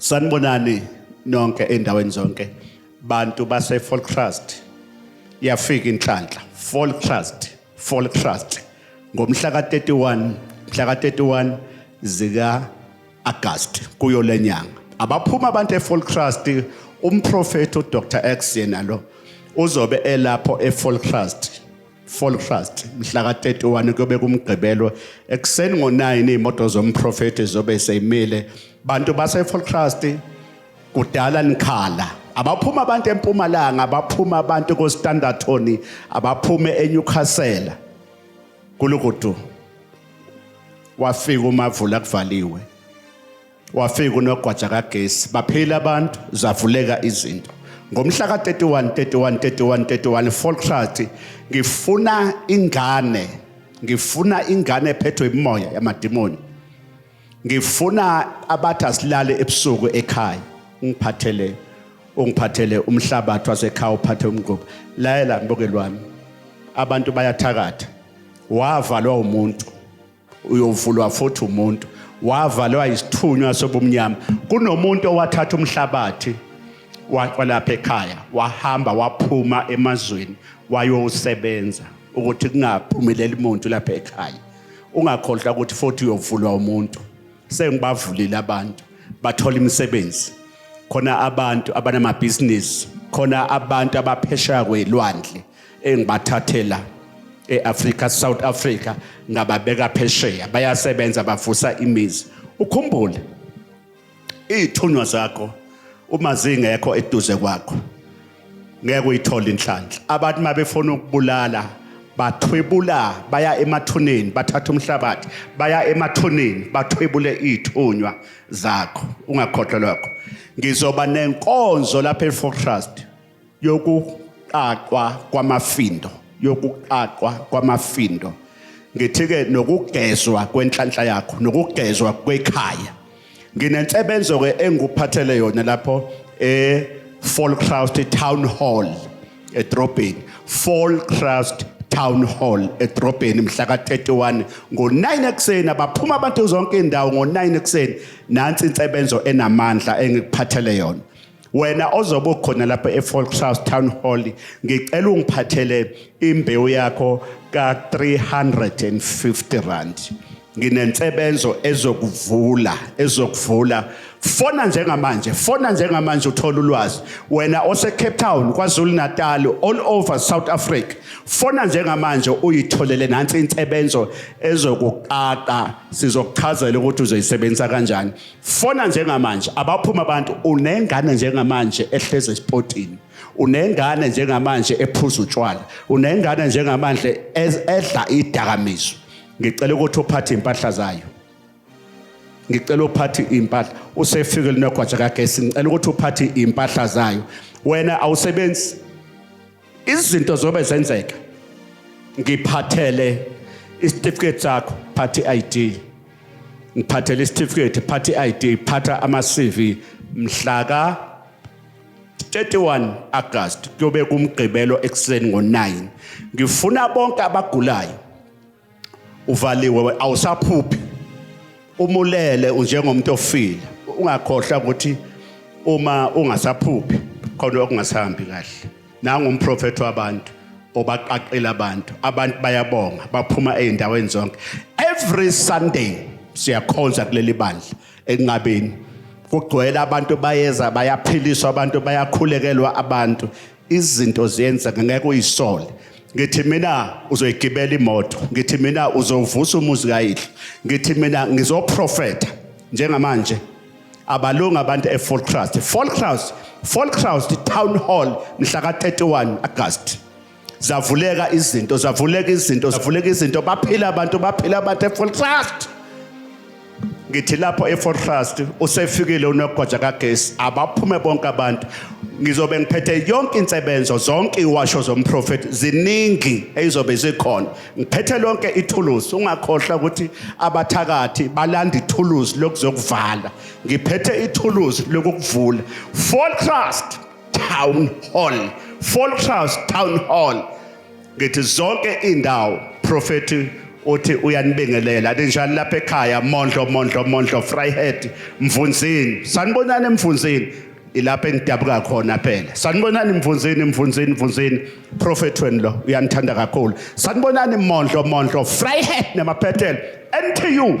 Sanibonani nonke endaweni zonke bantu base Volkrast yafika inhlanhla Volkrast Volkrast ngomhla ka-31 mhla ka-31 zika August kuyo lenyanga abaphuma abantu eFolkrast umprofethi uDr X yena lo uzobe elapho eFolkrast Fall Trust mhla ka-31 kuyobe kumgqibelo ekuseni ngo-9 iy'moto zomprofethi zobe seyimile bantu base-Fall Trust kudala nikhala abaphuma abantu empumalanga abaphuma abantu kostandartoni abaphume enyukhasela kulukudu wafika umavula kuvaliwe wafika unogwaja kagesi baphila abantu zavuleka izinto ngomhla ka-31 31 31 31 folkrat ngifuna ingane ngifuna ingane ephethwe imoya yamadimoni ngifuna abathi asilale ebusuku ekhaya ungiphathele ungiphathele umhlabathi wasekhaya uphathe umgquba layela mbokeli wami abantu bayathakatha wavalwa umuntu uyovulwa futhi umuntu wavalwa isithunywa sobumnyama kunomuntu owathatha umhlabathi walapha ekhaya wahamba waphuma emazweni wayosebenza ukuthi kungaphumeleli muntu lapha ekhaya ungakhohlwa ukuthi futhi uyovulwa umuntu sengibavulile abantu bathola imisebenzi khona abantu abanamabhizinisi khona abantu abaphesheya kwelwandle engibathathela eAfrica South Africa ngababeka phesheya bayasebenza bavusa imizi ukhumbule izithunywa zakho uma zingekho eduze kwakho ngeke uyithole inhlanhla abantu mabefuna ukubulala bathwebula baya emathuneni bathatha umhlabathi baya emathuneni bathwebule izithunywa zakho ungakhohlwa lokho ngizoba nenkonzo lapha eFortrust yokuqaqwa kwamafindo yokuqaqwa kwamafindo ngithike nokugezwa kwenhlanhla yakho nokugezwa kwekhaya nginensebenzo ke engikuphathele yona lapho e Falcrust Town Hall edrobheni Falcrust Town Hall edrobheni mhla ka-31 ngo-9 ekuseni abaphuma abantu zonke indawo ngo-9 ekuseni nansi insebenzo enamandla engikuphathele yona wena ozobe ukhona lapha eFolkshouse Town Hall ngicela ungiphathele imbewu yakho ka350 rand nginensebenzo ezokuvula ezokuvula fona njengamanje fona njengamanje uthola ulwazi wena ose Cape Town kwaZulu Natal all over South Africa fona njengamanje uyitholele nansi insebenzo ezokuqaqa sizokuchazela ukuthi uzoyisebenzisa kanjani fona njengamanje abaphuma abantu unengane njengamanje ehleze espotini unengane njengamanje ephuza utshwala unengane njengamanje edla idakamizwa ngicela ukuthi uphathe impahla zayo ngicela uphathe impahla usefike linogwaja kagesi ngicela ukuthi uphathe impahla zayo wena awusebenzi izinto zobe zenzeka ngiphathele isitifiketi sakho phathi ID ngiphathele isitifiketi phathi ID phatha ama CV mhla ka 31 August kuyobe kumgqibelo ekseni ngo9 ngifuna bonke abagulayo uvaliwe awusaphuphi umulele unjengomuntu ofile ungakhohlwa ukuthi uma ungasaphuphi khona okungasahambi kahle nangu umprofethi wabantu obaqaqela abantu abantu bayabonga baphuma ezindaweni zonke every sunday siyakhonza kuleli bandla ekunqabeni kugcwele abantu bayeza bayaphiliswa abantu bayakhulekelwa abantu izinto ziyenzeka ngeke uyisole ngithi mina uzoyigibela imoto ngithi mina uzovusa umuzi kayihlo ngithi mina ngizoprofeta njengamanje abalungu abantu eFolkcrust Folkcrust Folkcrust Town Hall mhla ka31 August zavuleka izinto zavuleka izinto zavuleka izinto baphila abantu baphila abantu eFolkcrust ngithi lapho efortrust usefikile unogoja kagesi abaphume bonke abantu ngizobe ngiphethe yonke insebenzo zonke iwasho zomprofethi ziningi ezizobe zikhona ngiphethe lonke ithuluzi ungakhohlwa ukuthi abathakathi balanda ithuluzi lokuzokuvala ngiphethe ithuluzi lokukuvula Fortrust Town Hall Fortrust Town Hall ngithi zonke indawo prophet uthi uyanibingelela linjani lapha ekhaya mondlo mondlo mondlo fryhead mvunzini sanibonani emvunzini ilapha engidabuka khona phela sanibonani mvunzini mvunzini mvunzini prophet wenu lo uyanithanda kakhulu sanibonani mondlo mondlo fryhead nemaphethelo NTU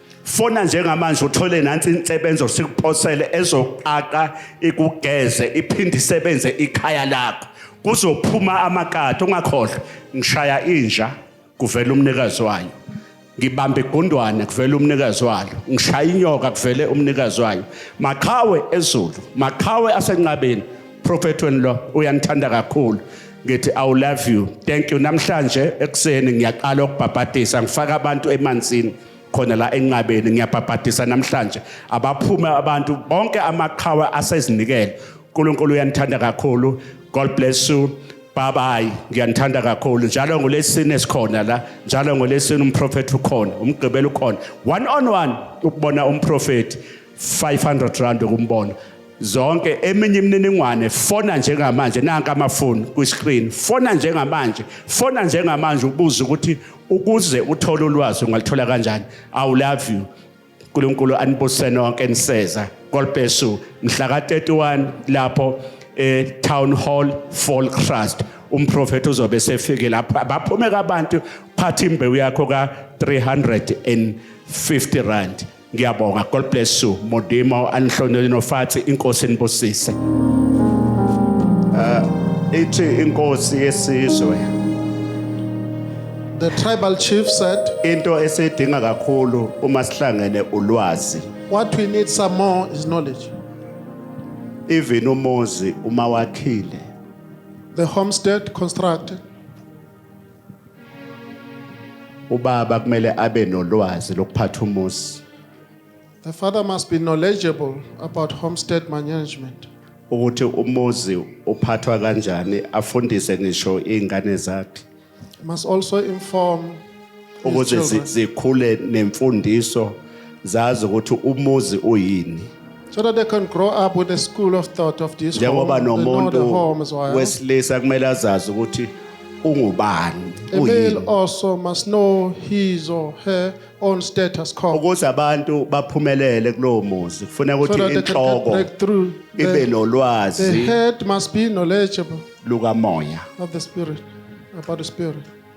Fona njengamanje uthole nansi insebenzo sikuphosele ezoqaqa ikugeze iphinde isebenze ikhaya lakho. Kuzophuma amakati ungakhohlwa ngishaya inja kuvela umnikazi wayo. Ngibamba igundwane kuvela umnikazi wayo. Ngishaya inyoka kuvele umnikazi wayo. Maqhawe ezulu, maqhawe asenqabeni. Prophet wenu lo uyanithanda kakhulu. ngithi i love you thank you namhlanje ekuseni ngiyaqala ukubhabhadisa ngifaka abantu emanzini khona la enqabeni ngiyabhabhadisa namhlanje abaphume abantu bonke amaqhawe asezinikele uNkulunkulu uyanithanda kakhulu god bless you bye bye ngiyanithanda kakhulu njalo ngolesine sikhona la njalo ngolesine umprofeti ukhona umgqibelo ukhona one on one ukubona umprofeti 500 rand ukumbona zonke eminye imininingwane fona njengamanje nanka amafoni kwi-screen fona njengamanje fona njengamanje ubuze ukuthi ukuze uthole ulwazi ungalithola kanjani i love you uNkulunkulu anibusise nonke niseza kolpesu mhla ka-31 lapho e-town hall fall trust umprofethi uzobe esefike lapha baphumeka abantu phatha imbewu yakho ka-350 rand ngiyabonga god bless you modimo anihlonele nofathi inkosi inibusise uh, ithi inkosi yesizwe the tribal chief said into esidinga kakhulu uma sihlangene ulwazi what we need some more is knowledge even umuzi uma wakhile the homestead constructed Ubaba kumele abe nolwazi lokuphatha umuzi. The father must be knowledgeable about homestead management. ukuthi umuzi uphathwa kanjani afundise ngisho izingane zakhe He must also inform ukuze zi- zikhule nemfundiso zazi ukuthi umuzi uyini So that they can grow up with a school of thought of this home. njengoba They know the nomuntu home as well. wesilisa kumele azazi ukuthi ungubani A male uyini also must know his or her own status called. ukuze abantu baphumelele kulowo muzi kufuneka So ukuthi that they can get inhloko breakthrough. ibe The, the nolwazi head must be knowledgeable lukamoya of the spirit, about the spirit.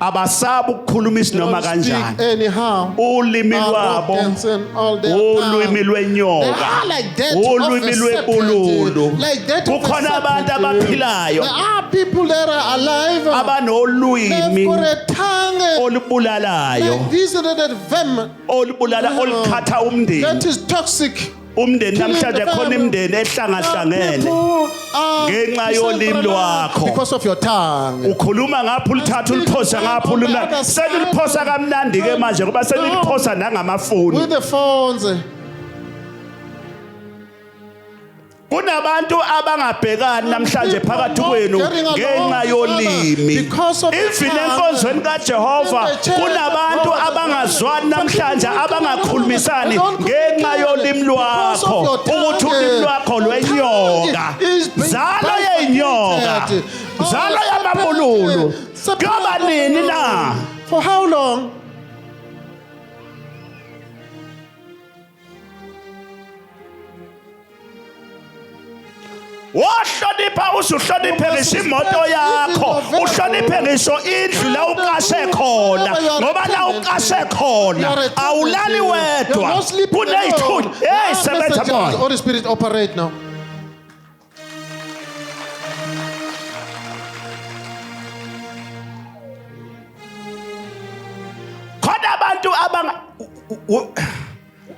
abasabi ukukhuluma isinoma kanjani ulimi lwabo ulwimi lwenyoka ulwimi lwebululu kukhona abantu abaphilayo abanolwimi olubulalayo olubulala olukhatha umndeni umndeni namhlanje khona imindeni ehlangahlangene ngenxa yolimi lwakho because of your tongue ukhuluma ngapha ulithatha uliphosa ngapha ulima seniliphosa kamnandi ke manje ngoba seniliphosa nangamafoni with the phones kunabantu abangabhekani namhlanje phakathi kwenu ngenxa yolimi even enkonzweni kaJehova kunabantu abangazwani namhlanje abanga khulumisani ngenxa yolimi lwakho ukuthi ulimi lwakho lwenyoka zalo yenyoka zalo yamabululu kuyoba nini na for how long wohlonipha uze uhloniphe ngisho imoto yakho uhloniphe ngisho indlu la uqashe khona ngoba la uqashe khona awulali wedwa kuneyithuli hey sebenza moya holy spirit operate now khona abantu abanga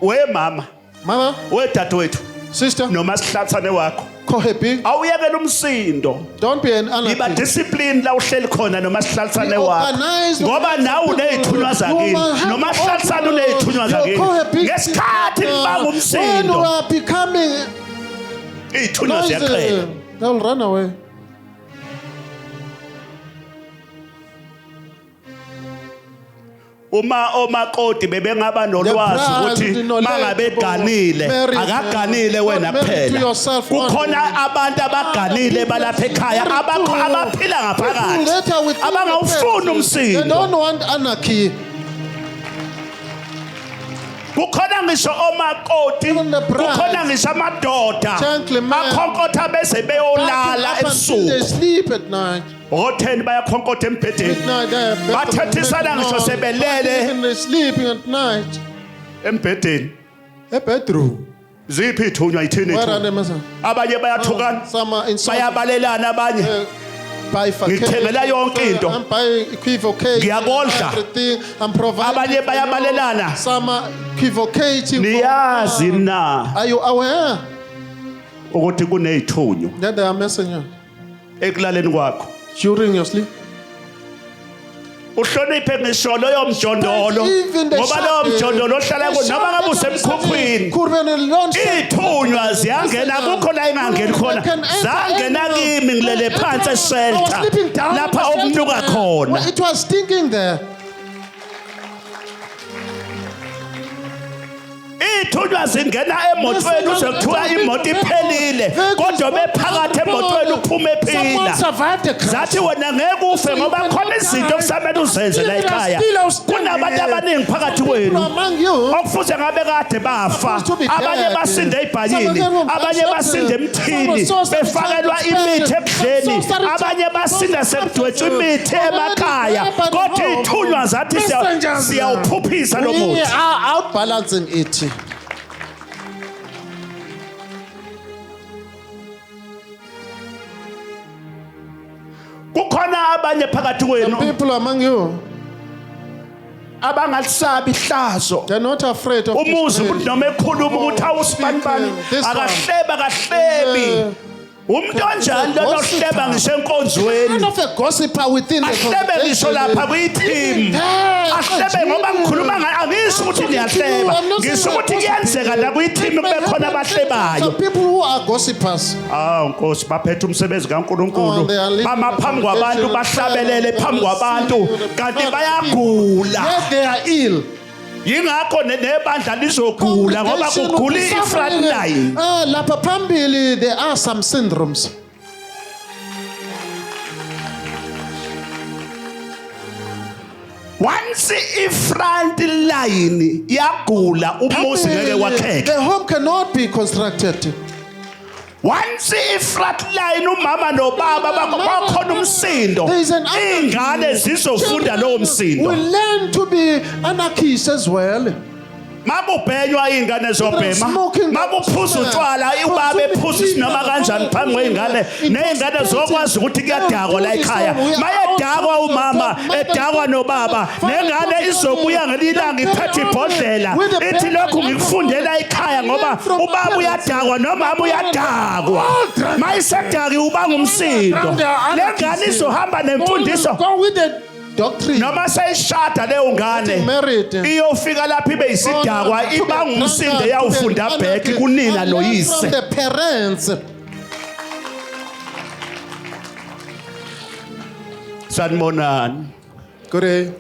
we mama mama we dadewethu sister noma sihlathane wakho khohepi awuyekela umsindo don't be an anarchist yiba discipline la uhleli khona noma sihlathane wakho ngoba nawe unezithunywa zakini noma sihlathane unezithunywa zakini ngesikhathi ngibanga umsindo when you are becoming izithunywa ziyaxela they'll run away uma omakoti bebengaba nolwazi ukuthi mangabeganile akaganile wena kuphela kukhona abantu abaganile balapha ekhaya abakho abaphila ngaphakathi abangawufuni umsindo kukhona ngisho omakoti kukhona ngisho amadoda akhonkotha bese beyolala ebusuku otheni bayakhonkotha embhedeni bathethisana ngisho sebelele embhedeni ebedroom ziphi ithunywa yithini abanye bayathukana oh, bayabalelana abanye eh, ngithengela yonke into ngiyakondla abanye bayabalelana niyazi na ukuthi kuneyithunywa ekulaleni kwakho during your sleep. uhloniphe ngisho loyo mjondolo Even the ngoba loyo shepherd, mjondolo ohlala the ku noma ngabe shepherd of the usemkhukhwini city could be in a long sleep. ithunywa ziyangena kukho la ingangeni khona zangena kimi ngilele phansi I was eshelter sleeping down lapha in the shelter okunuka there. khona Well, It was stinking there. Ithunywa zingena emotweni uze kuthiwa imoto iphelile kodwa bephakathi emotweni uphuma ephila. Zathi wena ngeke ufe ngoba khona izinto okusamele uzenze la ekhaya. Kunabantu abaningi phakathi kwenu okufuze ngabe kade bafa. Abanye basinde ibhayini, abanye basinde emthini befakelwa imithi ekudleni, abanye basinde sekudwetshwa imithi emakhaya. Kodwa ithunywa zathi siyawuphuphisa lo We muthi are outbalancing it. kukhona abanye phakathi Some kwenu people among you, abangalisabi ihlazo they're not afraid of umuzi this umuntu noma ekhuluma ukuthi awusibanibani Speaking, this one. akahleba kahlebi umuntu onjani lona ohleba ngisho enkonzweni Kind of a gossiper within the ahlebe ngisho congregation. lapha kwi-team Yeah, ahlebe ngoba ngikhuluma ngayo angisho ukuthi ngiyahleba I'm not saying ngisho ukuthi I'm kuyenzeka la kwi-team It may kube khona happen to abahlebayo some people who are gossipers. awu nkosi baphethe umsebenzi Oh, kankulunkulu they are living bama the phambi kwabantu congregation of bahlabelele prayer. phambi kwabantu kanti bayagula Yet they are ill. yingakho ne- nebandla lizogula ngoba Congregation will kugula be i-front suffering. line Ah, lapha phambili there are some syndromes once i-front line yagula umuzi ngeke Phambili, wakheke the home cannot be constructed Once iflatline umama nobaba bakhona umsindo ingane zizofunda lowo msindo. We learn to be anarchists as well. makubhenywa iy'ngane zobhema makuphuza utshwala ubaba ephuza isinoma kanjani phambi kwey'ngane ney'ngane zokwazi ukuthi kuyadakwa la ekhaya mayedakwa umama edakwa nobaba nengane izobuya ngelinye ilanga iphethe ibhodlela ithi lokhu ngikufundela ekhaya ngoba ubaba uyadakwa nomama uyadakwa mayisedaki uba ngumsindo le ngane izohamba nemfundiso doctrine noma seyishada leyo ngane iyofika lapha ibe isidakwa iba ngumsindo yawufunda back kunina noyise the parents sanibonani Good day.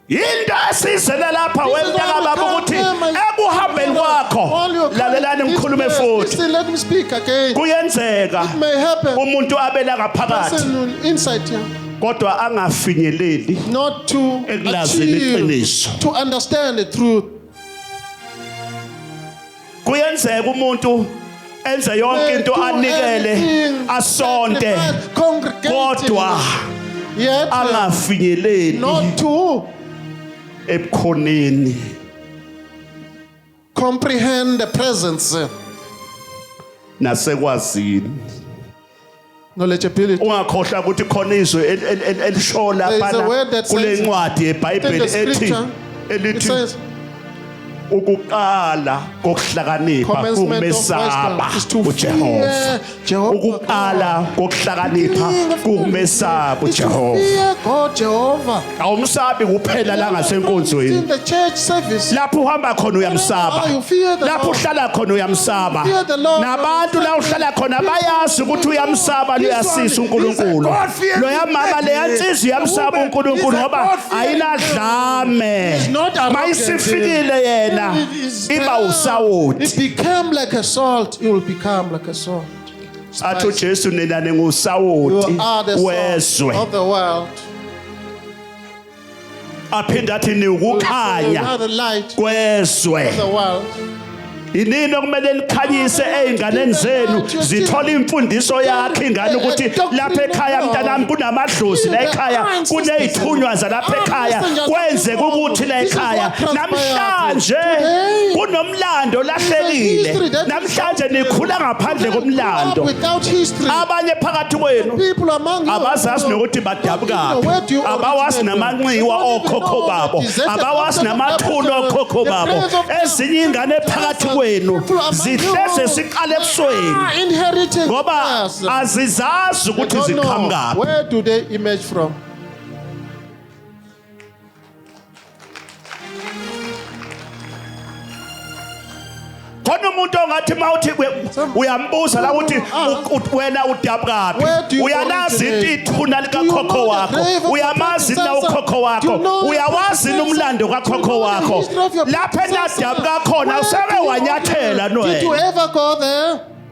yinto esizele lapha This is wemntaka all baba come ukuthi here, my- ekuhambeni kwakho All your lalelani coming ngikhulume is there. futhi Listen, let me speak again. kuyenzeka It may happen. umuntu abela ngaphakathi Person will insight you, kodwa angafinyeleli not to Ekulazini achieve, iqiniso. to understand the truth. kuyenzeka umuntu enze yonke into anikele asonte kodwa angafinyeleli ebukhoneni comprehend the presence nasekwazini Knowledge ability. ungakhohlwa ukuthi khona izwi el- el- el- elishola There is a phana word that kule says- ncwadi yebhayibheli Take the ethi scripture. It elithi says, ukuqala kokuhlakanipha commencement of wisdom kumesaba is to ujehova fear Jehovah. ukuqala kokuhlakanipha Beginning of kumesaba wisdom is to ujehova fear God, Jehovah. awumsabi kuphela la ngasenkonzweni In the church service, lapho uhamba khona uyamsaba Oh, you fear the lapho Lord. uhlala khona uyamsaba You fear the Lord. nabantu la uhlala khona bayazi ukuthi uyamsaba luyasisa unkulunkulu God-fearing loya mama lady. leya nsizwa uyamsaba The woman unkulunkulu is a ngoba God-fearing ayinadlame She's not arrogant. mayisifikile yena It is iba there. usawoti It become like a salt. It will become like a salt. athi uJesu nina ningusawoti wezwe aphinde athi niwukukhanya kwezwe yinini okumele likhanyise ezinganeni zenu zithola imfundiso yakhe ingane ukuthi lapha ekhaya mntanami kunamadlozi la ekhaya kunezithunywa zalapha ekhaya kwenzeka ukuthi la ekhaya namhlanje kunomlando lahlekile mhlanje nikhula ngaphandle komlando abanye phakathi kwenu abazazi nokuthi badabukaphi abawazi namanxiwa okhokho babo abawazi namathuna okhokho babo ezinye ingane phakathi kwenu zihleze siqale ebusweni ah, ngoba azizazi ukuthi ziqhamukaphi khona umuntu ongathi uma uthi uyambuza la ukuthi wena udabukaphi uyalazi ithuna likakhokho wakho uyamazi na ukhokho wakho uyawazi nomlando kakhokho wakho lapha enadabuka khona usebe wanyathela no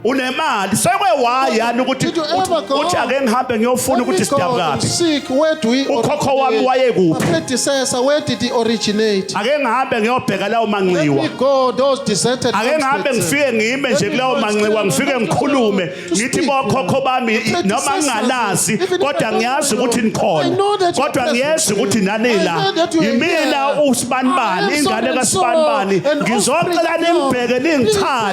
unemali sekwe why yani ukuthi Did you ever uthi- go? uthi ake ngihambe ngiyofuna Let me ukuthi go and sidabukaphi seek where do we Ukhokho wami originate? wayekuphi? My predecessor, where did he originate? ake ngihambe ngiyobheka lawo Let me manxiwa go those deserted ake ngihambe homesteads. ngifike ngime nje kulawo manxiwa ngifike ngikhulume ngithi bokhokho bami noma ngingalazi kodwa ngiyazi ukuthi nikhona kodwa ngiyazi ukuthi nanila yimina usibanibani ingane kasibanibani ngizocela nimbheke ningithande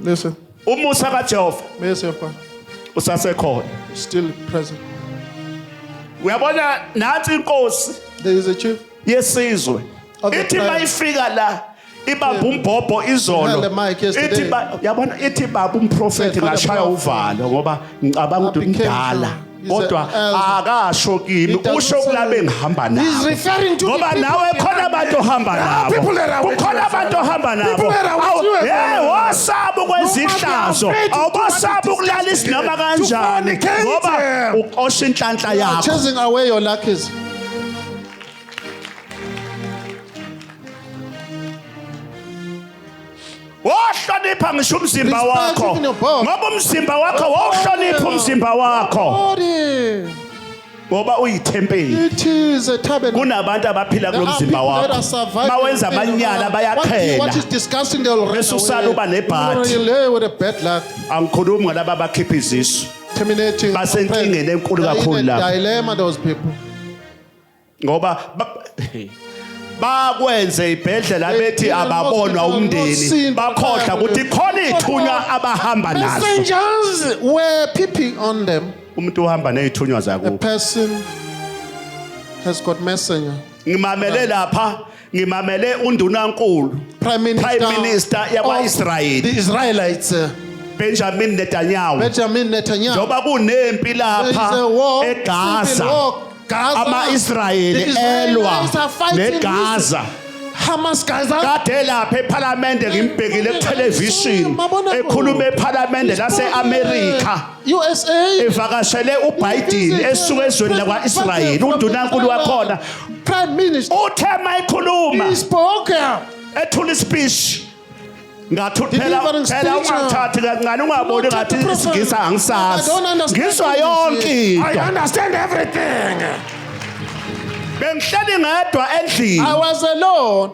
Listen. Umusa kaJehova. Mercy of God. Usasekhona. Still present. Uyabona nathi inkosi. There is a chief. Yesizwe. Ithi mayifika la ibamba umbhobho izolo ithi yabona ithi baba umprofeti ngashaya uvalo ngoba ngicabanga ukuthi umdala He's a kodwa elder. akasho kimi He doesn't usho say- kulabe ngihamba He's nabo referring to the ngoba people nawe behind khona abantu ohamba There are nabo people that are with kukhona you, abantu sir. ohamba nabo People that are with Awu, you, sir. hey wosaba ukwezihlazo afraid to do what awubasaba it is ukulala to izinoma do. kanjani To fornicate. ngoba uqosha inhlanhla You are yakho chasing away your luckies. wohlonipha ngisho umzimba wakho ngoba umzimba wakho wawuhlonipha umzimba wakho ngoba uyithempeli kunabantu abaphila kulo mzimba wakho mawenza amanyala bayakhela bese usala uba nebhathi angikhulumi ngalaba abakhipha izisu basenkingeni enkulu kakhulu lapho ngoba ba- bakwenze ibhedlela bethi Impilo ababonwa Hospital umndeni nosintu bakhohlwa labo. ukuthi khona ithunywa abahamba nazo Messengers were peeping on them. umuntu uhamba nezithunywa A zakubo person has got messenger. ngimamele lapha ngimamele undunankulu Prime Minister, Prime Minister of yakwa-Israyeli. the Israelites, uh, benjamin netanyahu Benjamin Netanyahu. njengoba kunempi There is a lapha war, civil egaza war, Gaza. The ama-israyeli elwa Israelites are fighting negaza with Hamas Gaza. kade lapha ephalamende ngimbhekile kuthelevishini Mabona kude. ekhuluma ephalamende lase-amerika USA evakashele uBiden esuka ezweni lakwa-Israyeli undunankulu wakhona prime minister uthe mayikhuluma he spoke ethula ispeech ngathi uphela phela ungathathi kancane ungaboni ngathi isingisa angisazi ngizwa yonke into i understand everything bengihleli ngedwa endlini i was alone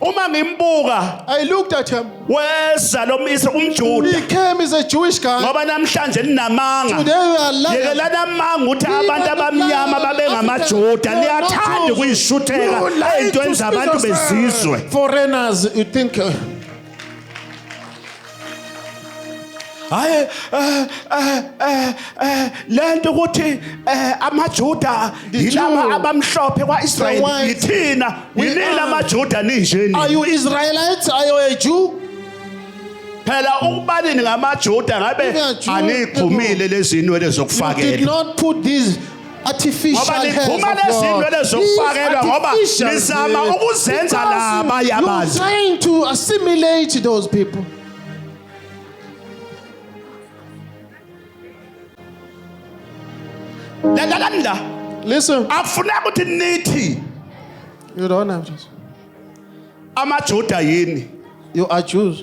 uma ngimbuka I looked at him. weza lo myisa umjuda He came as a Jewish guy. ngoba namhlanje ninamanga Today we are lying. yekelani amanga ukuthi abantu abamnyama babengamajuda niyathanda ukuyishutheka ey'ntweni zabantu bezizwe Foreigners, you think. uh, hayi eh, eh, eh, lento ukuthi amaJuda yilaba abamhlophe kwaIsrael yithina yinina amaJuda ninjeni are you Israelites are you a Jew phela ukubalini ngamaJuda ngabe aniphumile lezinwele zokufakela did not put these artificial ngoba hairs liphuma of God. lezinwele zokufakelwa These ngoba artificial lizama hairs, ukuzenza because laba you- abantu. You're trying to assimilate those people. lalani la Listen, akufuneka ukuthi nithi you don't have to. amajuda yini You are Jews.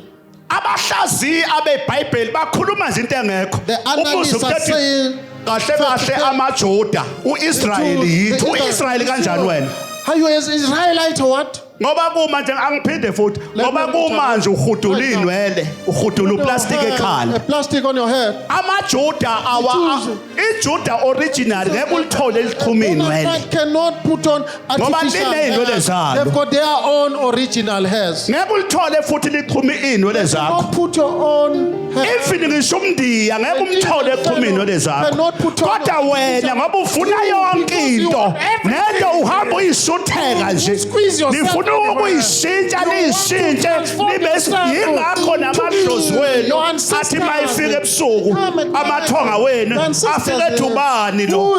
abahlaziyi abebhayibheli bakhuluma nje into engekho The analysts Umbuzo are ukhethe- saying kahle kahle amajuda u-israyeli yithu u-israyeli kanjani wena Are you as Israelite or what? ngoba kuma nje angiphinde futhi Let ngoba me tell kuma you. nje uhudula Right now. iy'nwele uhudula uplastiki A ekhala plastic on your head. amajuda awa Jews. ijuda original ngeke ulithole elixhumini Woman wena right cannot put on Ngoba artificial liney'nwele hair. zalo. They've got their own original hairs. ngeke ulithole futhi lixhuma iy'nwele zakho Don't put your own hair. even ngisho umndiya ngeke umthole exhuma iy'nwele zakho Cannot put on- kodwa wena ngoba ufuna yonke into nento uhamba uyisutheka nje Squeeze yourself nifuna everywhere. ukuyishintsha You want to niyishintshe transform nibe yourself yingakho to be namadlozi wenu your ancestors. athi mayifike ebusuku amathonga wenu afike ethi ubani lo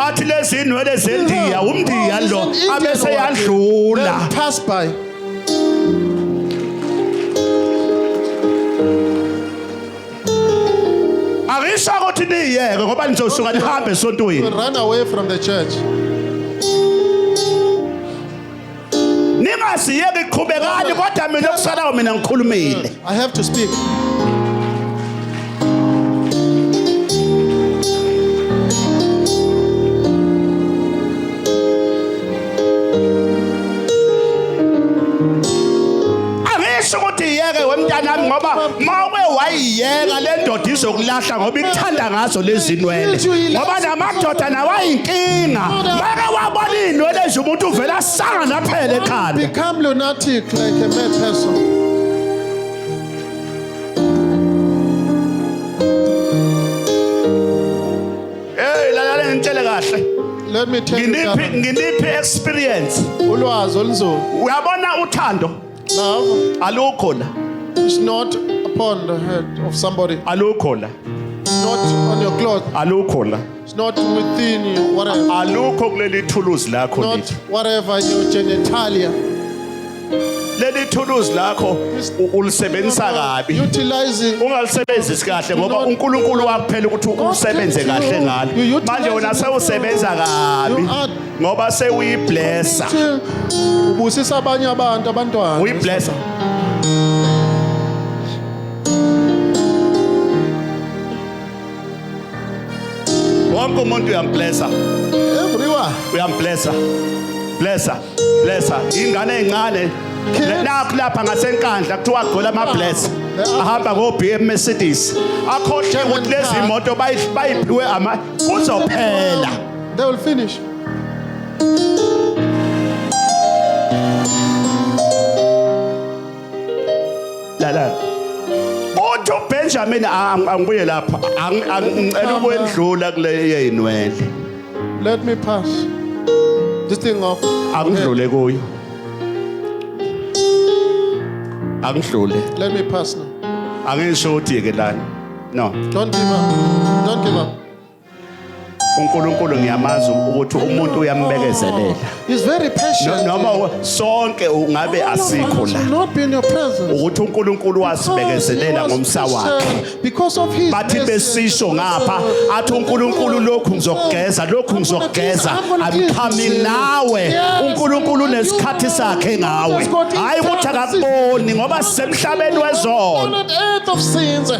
athi lezi inwele zendiya umndiya lo abese yadlula angisho ukuthi niyeke ngoba nizosuka nihambe esontweni ningasiyeki qhubekani kodwa mina okusalayo mina ngikhulumile I have to speak. angisho ukuthi yeke wemntanami ngoba mawuke wayiyeka le ndoda izokulahla ngoba ikuthanda ngazo lezi nwele ngoba namadoda nawayinkinga make wabona iy'nwele nje umuntu uvele asanga naphela ekhanda Become lunatic like a mad person. heyi lalale ngitshele kahle Let me tell you, nginiphi Gavin, nginiphi experience ulwazi olunzulu. uyabona uthando Love alukho la is not upon the head of somebody. alukho la It's not on your cloth. alukho la It's not within you. Whatever. alukho kuleli thuluzi lakho Not lithi whatever your genitalia. leli thuluzi lakho u- ulisebenzisa kabi Utilize it. ungalisebenzisi kahle ngoba unkulunkulu wakuphela ukuthi usebenze kahle ngalo manje wena sewusebenza kabi You are ngoba sewuyiblessa ubusisa abanye abantu abantwana uyiblessa wonke umuntu uyamblessa everyone uyamblessa blessa blessa ingane encane nakho lapha ngasenkandla kuthiwa gqola amabless ahamba ngo-bm mercedes akhohle ukuthi lezi moto bayiphiwe ama kuzophela They will finish. Lala. Uthi uBenjamin ang- angibuye lapha. Ang- ang- Ngicela Come ukwendlula kule yeyinwele. Let me pass. This thing off. Angidlule kuyo. Angidlule. Let me pass now. Angisho ukuthi yeke lana. No. Don't give up. Don't give up. uNkulunkulu ngiyamazi ukuthi umuntu uyambekezelela He's very patient. noma u- sonke ungabe All of us asikho will la not be in your presence. ukuthi uNkulunkulu Because he wasibekezelela was ngomsa wakhe patient Because of his bathi mercy. besisho ngapha athi uNkulunkulu lokhu ngizokugeza lokhu ngizokugeza angiqhami nawe uNkulunkulu unesikhathi sakhe ngawe hayi ukuthi akakuboni ngoba sisemhlabeni wezono Planet earth of sins.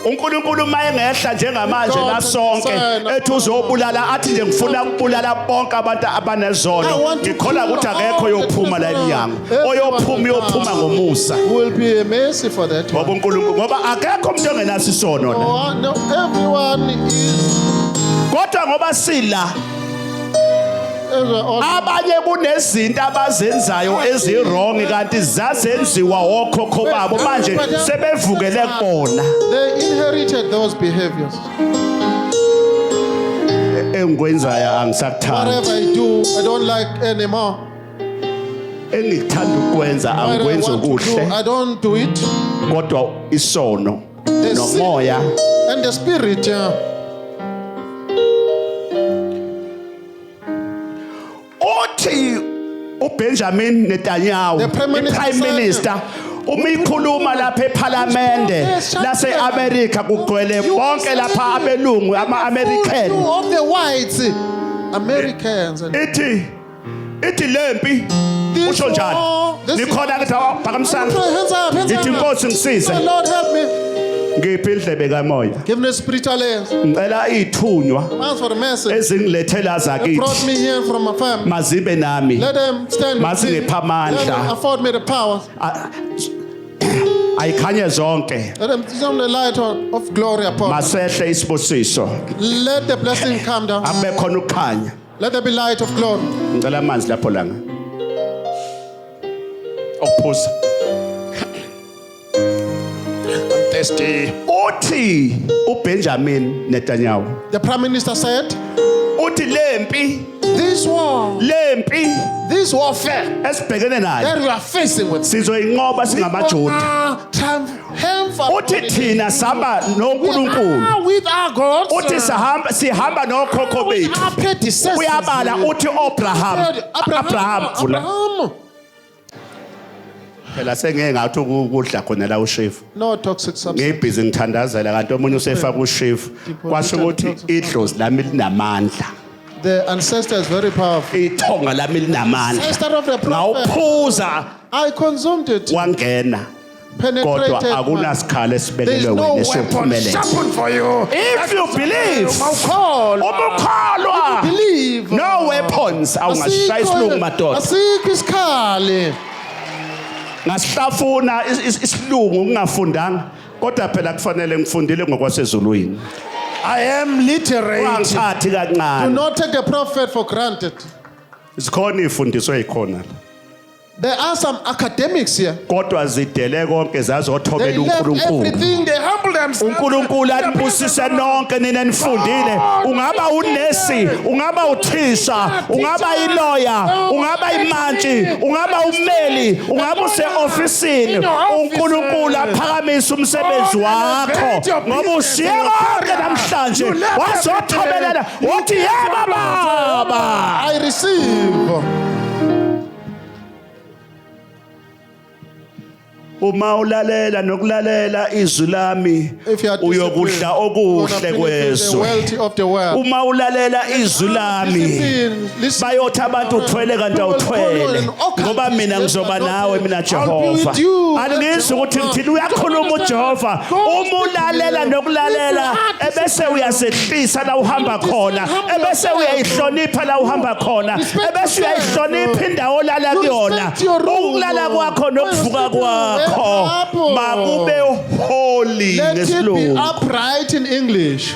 uNkulunkulu uma engehla njengamanje la sonke ethi uzobulala athi nje ngifuna ukubulala bonke abantu abanezono ngikhola ukuthi akekho oyophuma la emnyango oyophuma uyophuma ngomusa will be a mercy for that ngoba uNkulunkulu ngoba akekho umuntu ongenaso isono la oh, everyone is kodwa ngoba sila abanye kunezinto abazenzayo eziwrong kanti zazenziwa wokhokho babo manje sebevukele kubona they inherited those behaviors engikwenzayo angisakuthandi whatever i do i don't like anymore engikuthanda ukwenza angikwenzi okuhle i don't do it kodwa isono The sea nomoya and the spirit. Yeah. uthi uBenjamin Netanyahu The Prime Minister iPrime said- Minister uma ikhuluma lapha ePhalamende Yes, shut laseAmerica kugcwele You bonke understand? lapha abelungu ama-American You of the whites, Americans. And ithi ithi lempi usho njani nikhona ke thawa phakamisana ithi inkosi ngisize lord help me ngiphi indlebe kamoya give me spiritual ears ngicela ithunywa ask for the message ezingilethela zakithi brought me here from my family mazibe nami let them stand mazingipha amandla afford me the power ayikhanye zonke masehle isibusiso abe khona ukukhanya Let there be light of glory. Ngicela amanzi lapho langa. Okuphuza. I'm thirsty. Uthi uBenjamin Netanyahu. The prime minister said, Uthi lempi This war, lempi this warfare esibhekene nayo that we are facing with, sizoyinqoba singamaJuda. are triumphant. uthi thina sihamba noNkulunkulu uthi sihamba sihamba nokhokho bethu uyabala uthi Abraham Abraham vula phela sengeke ngathi ukudla khona la ushefu no toxic substance ngibhizi ngithandazela kanti omunye usefaka ushefu kwasho ukuthi idlozi lami linamandla the ancestor is very powerful ithonga lami linamandla ancestor of the prophet ngawuphuza i consumed it wangena penetrated. kodwa akunasikhala esibelelwe wena esophumelela if you believe ubukholwa no weapons awungashaya isilungu madoda asikho isikhali ngasihlafuna isilungu ngingafundanga kodwa phela kufanele ngifundile ngokwasezulwini I am literate. Wangithathi kancane. Do not take the prophet for granted. Zikhona ifundiso ezikhona la. There are some academics here. kodwa zidele konke They zazothobela left uNkulunkulu everything. They humble themselves. uNkulunkulu anibusise nonke nina nifundile ungaba unesi ungaba uthisha ungaba iloya ungaba imantshi ungaba ummeli ungaba useofisini uNkulunkulu aphakamise umsebenzi wakho ngoba ushiye konke namhlanje wazothobelela wathi yebo baba I receive. uma ulalela nokulalela izwi lami If you are uyokudla disciplined, okuhle gonna benefit the kwezwe wealthy of the world. uma ulalela izwi lami Discipline, listen. bayothi abantu uthwele kanti awuthwele ngoba mina ngizoba nawe mina jehova andingizwa ukuthi ngithini uyakhuluma ujehova uma ulalela nokulalela ebese uyasehlisa la uhamba khona ebese uyayihlonipha la uhamba khona ebese uyayihlonipha indawo olala kuyona ukulala kwakho nokuvuka kwakho makube holy ngesilungu upright in english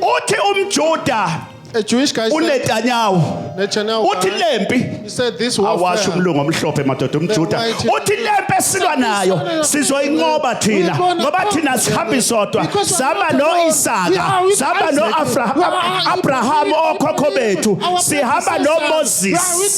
uthi umjuda A Jewish guy said, unetanyahu Netanyahu uthi guy, lempi he said this awasho warfare. umlungu omhlophe madoda umjuda Almighty- uthi lempi esilwa nayo sizoyinqoba thina We're gonna ngoba thina conquer sihambi them. sodwa Because we're saba not alone. We no-isaka are with saba Isaac. We are no-abraham our okhokho bethu our sihamba brothers and sisters. We are with nomoses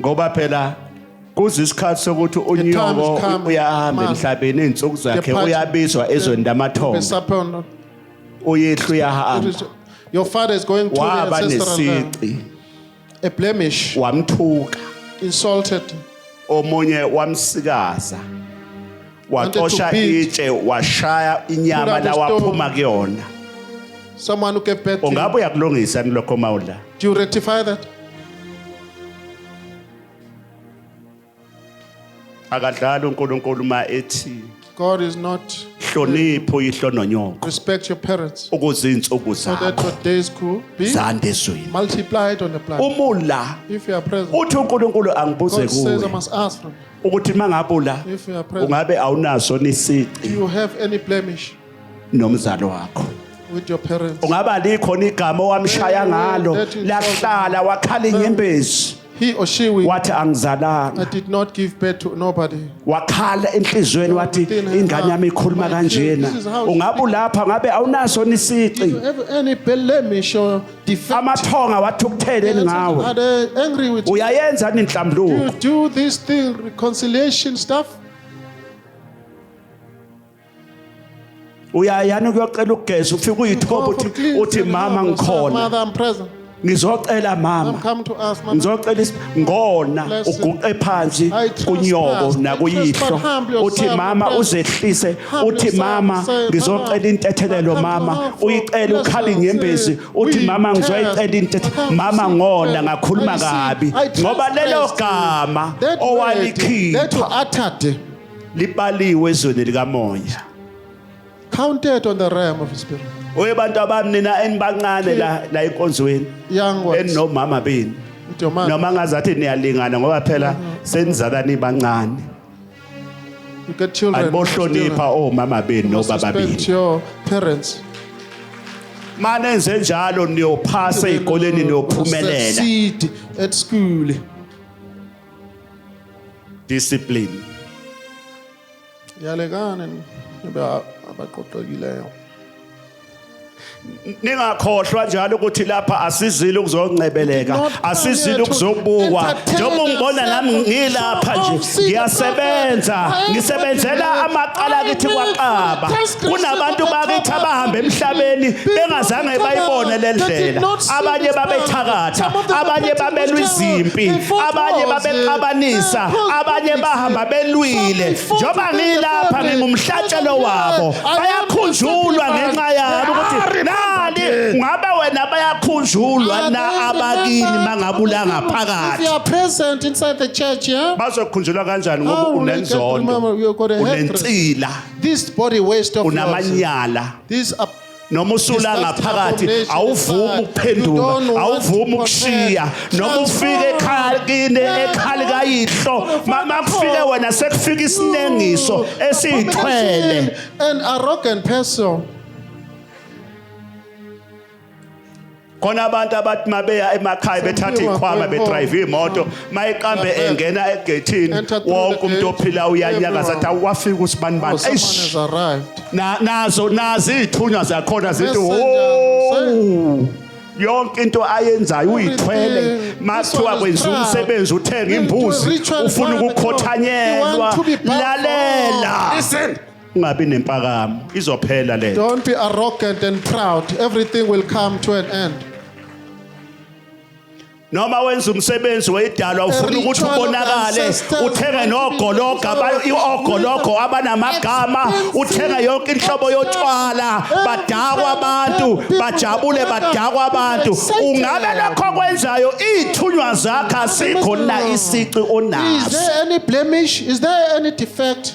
ngoba phela kuze isikhathi sokuthi unyoko come, uyahamba must. emhlabeni izinsuku zakhe Depart- uyabizwa ezweni Be lamathongo supper or not. uyehla It uyahamba is- Your father is going to the waba ancestral land. nesici A blemish. wamthuka Insulted. omunye wamsikaza Wanted to wacosha beat. itshe washaya inyama Through that lawaphuma kuyona Someone who gave birth to ungabe you. uyakulungisa ni lokho mawudla Do you rectify that? akadlali uNkulunkulu uma ethi God is not hlonipho uyihlo nonyoko respect your parents ukuze insuku so that zakho your days could be zande ezweni multiplied on the planet. umula If you are present, uthi uNkulunkulu angibuze God says I kuwe must ask from ukuthi mangabula If you are present. ungabe awunaso nisici you have any blemish. nomzali wakho with your parents. ungaba likhona igama owamshaya ngalo That is- lahlala wakhala inyembezi He or she will. wathi I angizalanga did not give birth to nobody. wakhala enhliziyweni wathi ingane yami ikhuluma kanjena ungabe ulapha ngabe awunaso Do nisici you have any blemish or defect? amathonga wathi ukutheleni ngawe Are they angry with you? uyayenza ni nhlambuluko You do this thing, reconciliation stuff. uyayani kuyocela ukugeza ufike uyithoba uthi uthi mama ngikhona ngizocela mama ngizocela ngona uguqe phansi kunyoko nakuyihlo uthi mama uzehlise uthi mama ngizocela intethelelo mama uyicela ukhali inyembezi uthi mama ngizoyicela intethelelo mama ngona ngakhuluma kabi ngoba lelo gama owalikhipha libaliwe ezweni likamoya counted on the realm of the spirit oye bantu abami nina enibancane la la enkonzweni young ones eninomama benu with your mom noma ngazathi niyalingana ngoba phela senizala nibancane you get children anibohlonipha omama benu nobaba benu respect your parents mane enze njalo niyophasa ezikoleni niyophumelela succeed at school discipline yalekane nibe abaqoqekileyo ningakhohlwa njalo ukuthi lapha asizile ukuzoncebeleka asizile ukuzobukwa njengoba ungibona nami ngilapha nje ngiyasebenza ngisebenzela amaqala kithi kwaqaba kunabantu bakithi abahamba emhlabeni bengazange bayibone le ndlela abanye babethakatha abanye babelwa izimpi abanye babexabanisa abanye bahamba belwile njengoba ngilapha ngingumhlatshelo wabo bayakhunjulwa ngenxa yami ukuthi nani ngabe wena bayakhunjulwa na abakini mangabula ngaphakathi bazokhunjulwa kanjani ngoba oh, unenzondo unensila This body waste of yours. unamanyala These are noma usula ngaphakathi awuvumi ukuphenduka awuvumi ukushiya noma ufike ekhaya kini ekhali kayihlo mama kufike wena sekufika isinengiso esiyithwele an arrogant person. khona abantu abathi mabeya emakhaya bethatha ikhwama bedrive imoto mayiqambe engena egethini wonke umuntu ophila uyanyakaza athi awafika usibani bani eish nazo nazi ithunywa zakhona zithi oh yonke into ayenzayo uyithwele makuthiwa kwenza umsebenzi uthenga imbuzi ufuna ukukhothanyelwa lalela ungabi nempakamo izophela le Don't be arrogant and proud. Everything will come to an end. noma wenza umsebenzi weyidalwa ufuna Every ukuthi child of ubonakale ancestors uthenge want to be nogologa aba- known. i-ogologo abanamagama Expensive. uthenge yonke inhlobo yotshwala Every badakwa child abantu of people badabule who badakwa abantu excited. ungabe lokho kwenzayo iy'thunywa zakhe asikho na isici Is onaso there any blemish? Is there any defect?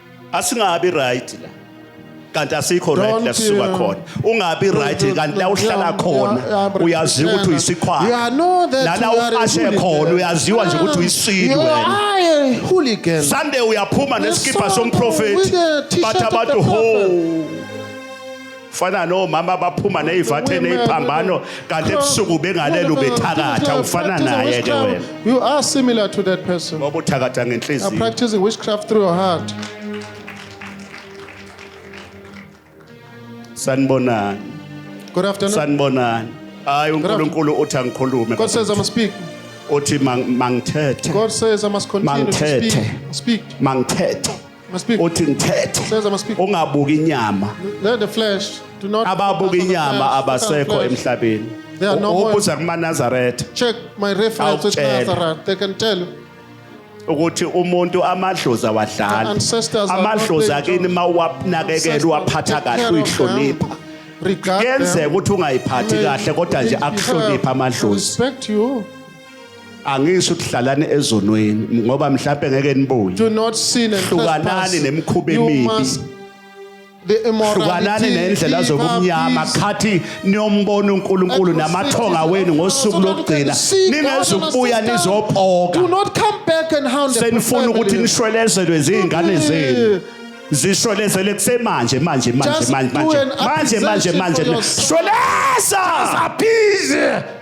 asingabi right la kanti asikho right Don't, la sisuka uh, khona ungabi don't, right don't, kanti la don't, uhlala yeah, khona yeah, yeah, but uyaziwa ukuthi Christiana, uyisikhwama you are know that nana you are a uqashe hooligan. khona uyaziwa nje ukuthi uyisidi You wena are a hooligan. Sunday uyaphuma Yes, nesikipa sir. somprofeti With the t-shirt bathi of the abantu ho ufana nomama abaphuma neyivathe neyiphambano kanti ebusuku bengalele ubethakatha ufana naye ke wena you are similar to that person ngoba uthakatha ngenhliziyo are practicing witchcraft through your heart sanibonani good afternoon sanibonani hayi uNkulunkulu uthi angikhulume God says I must speak uthi mangithethe God says I must continue to speak speak mangithethe Must be. uthi ngithethe Says I must speak. ungabuki inyama Let the flesh do not. ababuka focus on the inyama flesh, focus on abasekho flesh. emhlabeni They are no more. ubuza kumanazaretha Check my reference with Awutshela. Nazareth. They can tell you. ukuthi umuntu amadlozi awadlali Ancestors are not amadlozi playing akini jokes. uma uwanakekela uwaphatha Take kahle care of uyihlonipha them. Regard kuyenzeka them. ukuthi ungayiphathi May kahle kodwa nje be akuhloniphe fair. amadlozi Respect you. angisho ukuthi hlalani ezonweni ngoba mhlawumbe ngeke nibuye do not sin and hlukanani trespass. nemikhuba You emibi must the hlukanani immorality. nendlela leave zobumnyama our peace. khathi niyombona unkulunkulu At your namathonga cities, wenu ngosuku so that you can lokugcina see God and ningezukubuya assist them. Do nizopoka not come back and hound the senifuna ukuthi family. nishwelezelwe zingane zenu zishwelezele kusemanje manje manje Just manje do manje an manje manje appreciation manje for yourself. shweleza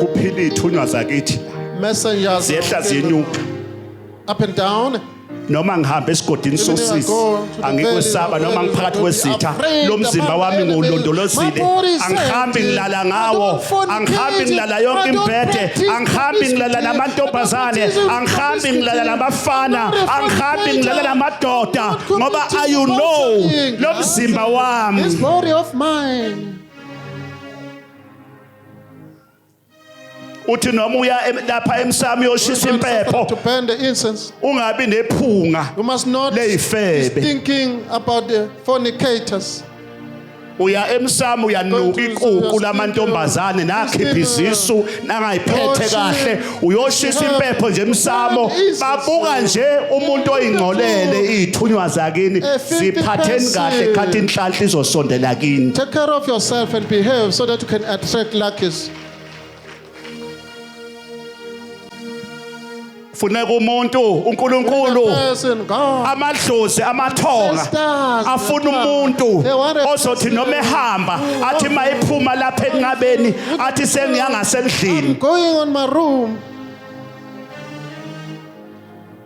kuphila ithunywa zakithi Messengers. ziyehla ziyenyuka Up and down. noma ngihamba esigodini Even if I sosisi go to the angikwesaba valley of noma the ngiphakathi valley, kwezitha I'm afraid lo mzimba about wami enemies. ngiwulondolozile My body is angihambi empty. ngilala I ngawo don't fornicate. angihambi ngilala I yonke don't imbhede practice angihambi ngilala promiscuity. namantombazane I don't practice angihambi ngilala promiscuity. namafana I'm not a angihambi ngilala fornicator. namadoda I'm not ngoba committing i you know adultery. lo mzimba wami This body of mine. uthi noma uya lapha emsamo uyoshisa impepho to burn the incense ungabi nephunga you must not be thinking about the fornicators uya emsamo uyanuka ikuku lamantombazane nakhipha izisu nangayiphethe kahle uyoshisa impepho nje emsamo babuka nje umuntu oyingcolele izithunywa zakini ziphatheni kahle khathi inhlanhla izosondela kini take care of yourself and behave so that you can attract luckies funeka umuntu uNkulunkulu amadlozi amathonga afuna umuntu ozothi noma ehamba athi mayiphuma lapha enqabeni athi sengiya ngasendlini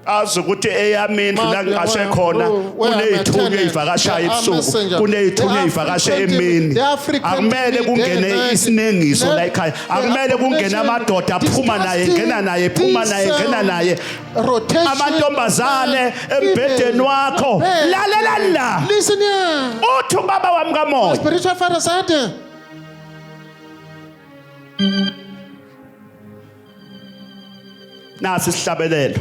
azi ukuthi eyami indlu la ngiqashe khona kuneyithunywa ezivakashayo ebusuku kuneyithunywa ezivakashe emini akumele kungene isiningiso la ekhaya akumele kungene amadoda phuma naye ngena naye phuma naye ngena naye amantombazane embhedeni wakho lalela la uthi ubaba wami kamoya spiritual father said nasi isihlabelelo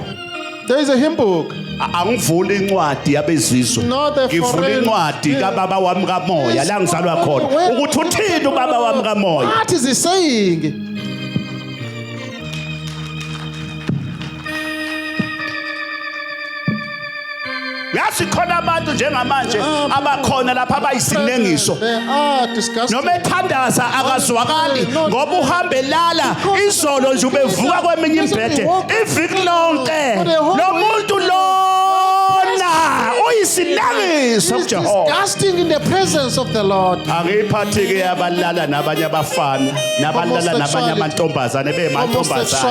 There is a hymn book. A- angivuli incwadi yabezizwe Not a ngivula foreign- incwadi Yeah. kababa wami kamoya la ngizalwa khona Where- ukuthi uthini ubaba wami kamoya What is he saying? yazi khona abantu njengamanje abakhona lapha abayisinengiso noma ethandaza akazwakali ngoba uhambe lala izolo nje ubevuka kweminye imbhede iviki lonke lo muntu lona uyisinengiso kujehovaangiyiphathi-ke yabalala nabanye abafana nabalala nabanye amantombazane bemantombazane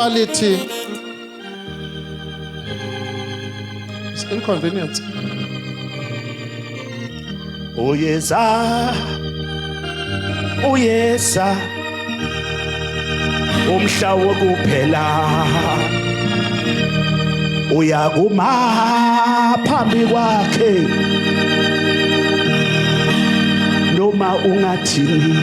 It's inconvenient. Uyeza. Uyeza. Umhla wokuphela. Uyakuma phambi kwakhe. Noma ungathini.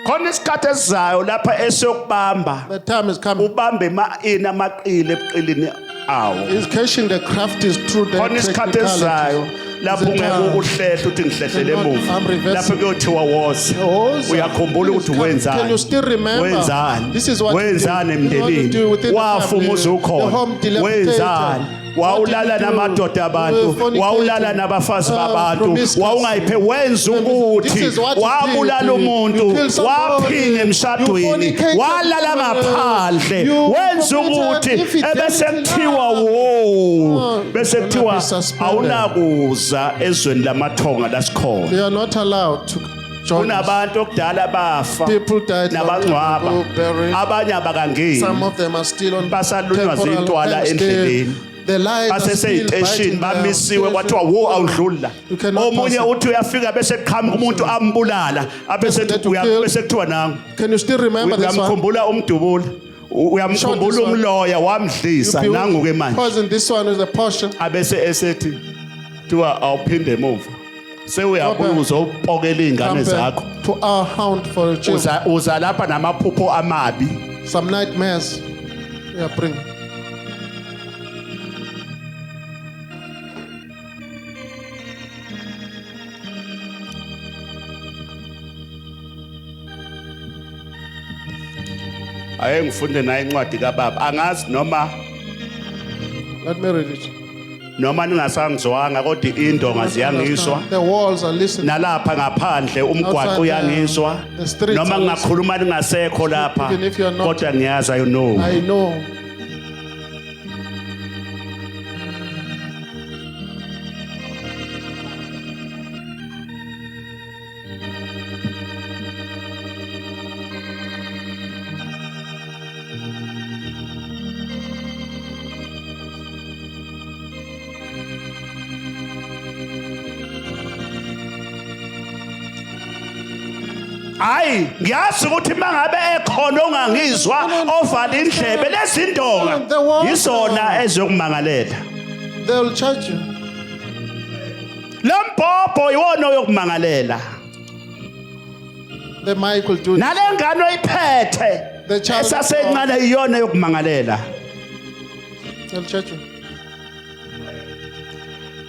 khona isikhathi esizayo lapha esiyokubamba The time is coming. ubambe ma ina maqile ebuqilini awo Is catching the craft is true. the khona isikhathi technicalities. esizayo lapho Is it ungeke time? ukuhlehle uthi ngihlehlele Cannot- emuva I'm reversing. lapho kuyothiwa woza Woza. uyakhumbula ukuthi Please, wenzani can you still remember? wenzani This is what you did. wenzani This is what you emndenini do within the wafa family. umuzi The ukhona home dilapidated. wenzani wawulala namadoda abantu wawulala nabafazi uh, babantu wawungayiphe wenza ukuthi wabulala umuntu waphinga emshadweni walala ngaphandle wenza ukuthi ebese kuthiwa wo bese kuthiwa awunakuza ezweni lamathonga lasikhona Joyous. kunabantu okudala bafa People died long nabangcwaba time ago, buried. abanye abakangeni Some of them are still on Basalunywa temporal zintwala camps. They- endleleni. Their lives are still baseseyiteshini biting them. bamisiwe kwathiwa wo awudluli la You cannot omunye pass it. uthi uyafika bese kuqhamuka umuntu ambulala abese Let to kill. bese kuthiwa nangu Can you still remember this one? uyamkhumbula umdubula U- Short uyamkhumbula this one. umloya wamdlisa You nangu ke manje poison this one with a portion. abese esethi kuthiwa awuphinde emuva sewuyabuza upokela iy'ngane zakho Compare to our hound for a child. uza uza lapha namaphupho amabi Some nightmares. Yeah, bring. aye ngifunde naye incwadi kababa angazi noma Let me read it. noma ningasangizwanga kodwa indonga ziyangiswa The walls are listening. nalapha ngaphandle umgwaqo Outside the- uyangiswa the streets noma are ngingakhuluma ningasekho lapha Even if you are not- kodwa ngiyazi i know I know. hayi ngiyazi ukuthi uma ngabe ekhona ongangizwa ovala indlebe lezindonga yizona eziyokumangalela they'll charge you lo mbhobho iwona oyokumangalela The mic will do. nale ngane oyiphethe The child. esasencane iyona yokumangalela Tell church.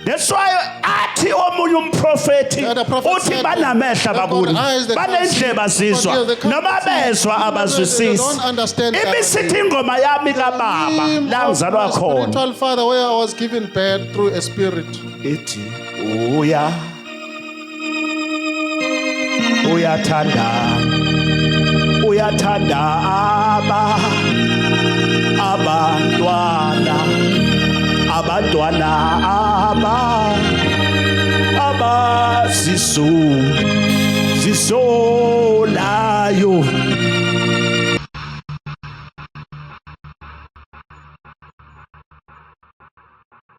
That's why athi omunye umprofethi Yeah, the prophet uthi said, banamehla "They've got bakuni eyes, they can't banendleba see, but zizwa they- they can't noma see." bezwa They don't abazwisisi understand that. ibisithi ingoma yami kababa Name la of ngizalwa my khona Spiritual father, where I was given birth through a spirit. ithi uya uyathanda uyathanda aba abantwana abantwana aba abazisu zisolayo